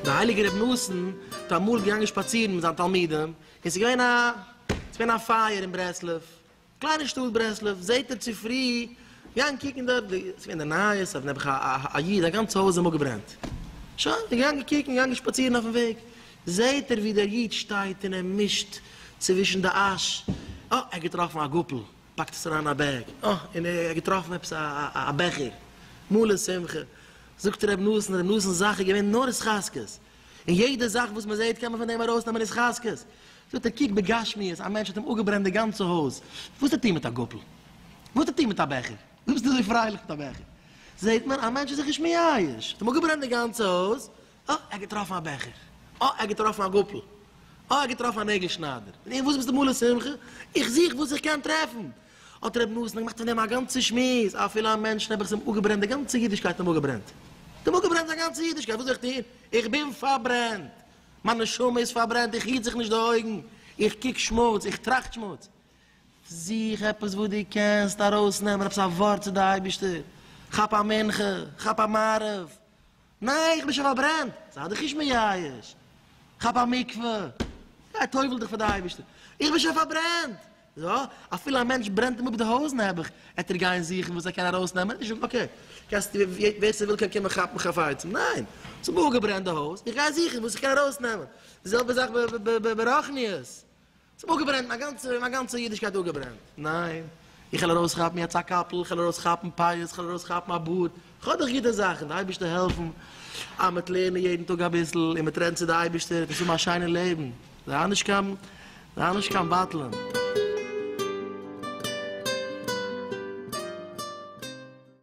דער הייליגער רבי נתן האט אמאל געגאנגען שפאצירן מיט זיינע תלמידים, און ס'איז געווען א ס'איז געווען א פייער אין ברסלב, קליינע שטאט ברסלב, זעט ער צופרי, געגאנגען קוקן דארט, די ס'איז געווען די נייעס אז נעבעך א איד זיין גאנצע הויז איז אמאל געברענט, שוין, געגאנגען קוקן, געגאנגען שפאצירן אויפן וועג, זעהט ער ווי דער איד שטייט און ער מישט צווישן די אש, אה, ער האט געטראפן א גאפל, פאקט עס אריין אין א בעג, אה, און ער האט געטראפן עפעס א בעכער, מלא שמחה, זאגט ר' נתן, ר' נתן'ס זאך איז געווען נאר התחזקות, און יעדע זאך וואס מען זעהט קען מען פון דעם ארויסנעמען התחזקות, זאגט ער, קוק בגשמיות, א מענטש האט אים אפגעברענט די גאנצע הויז, וואס טוט איר מיט א גאפל? וואס טוט איר מיט א בעכער? וואס ביסטו אזוי פרייליך מיט א בעכער? זעהט מען, א מענטש איז זיך נישט מייאש, האט אים אפגעברענט די גאנצע הויז, אה, ער האט געטראפן א בעכער. אה, ער האט געטראפן א גאפל. אה, ער האט געטראפן א נעגל שניידער. נו, וואס ביסטו מלא שמחה? איך זוך וואס איך קען טרעפן! האט ר' נתן געמאכט פון דעם א גאנצע שמועס, אפילו א מענטש נעבעך איז אים אפגעברענט די גאנצע אידישקייט איז אים אפגעברענט. איז אים אפגעברענט זיין גאנצע אידישקייט, וואס זאל איך טון? איך בין פארברענט! מיין נשמה איז פארברענט, איך היט זיך נישט די אויגן, איך קוק שמוץ, איך טראכט שמוץ. זוך עפעס וואס דו קענסט ארויסנעמען, עפעס א ווארט צו די אייבישטער. כאפ א מנחה, כאפ א מעריב. ניין איך בין שוין פארברענט, זיי דיך נישט מייאש, כאפ א מקווה, גיי טובל דיך פאר די אייבערשטער, איך בין שוין פארברענט, יא, אפילו א מענטש ברענט אים אפ די הויזן נעבעך, עט ער גיין זוכן וואס ער קען ארויס נעמען, איך זאג אקעי, קענסט ווער ס'וויל קען קומען כאפן מיך אויף עצם, ניין, ס'איז מיר אפגעברענט די הויז, איך גיי זוכן וואס איך קען ארויס נעמען, די זעלבע זאך ברחניות. זיי האבן אפגעברענט מיין גאנצע מיין גאנצע אידישקייט אפגעברענט, ניין, איך העל ארויסכאפן יעצט א קאפל, איך העל ארויסכאפן פאות, איך העל ארויסכאפן א בארד, איך האב דאך גוטע זאכן, די אייבערשטער העלפן אז מען לערנען יעדן טאג אביסל און מען טרערן צו די אייבערשטער און עס האבן א שיינע לעבן, זיי האבן נישט קיין זיי האבן נישט קיין באטלען.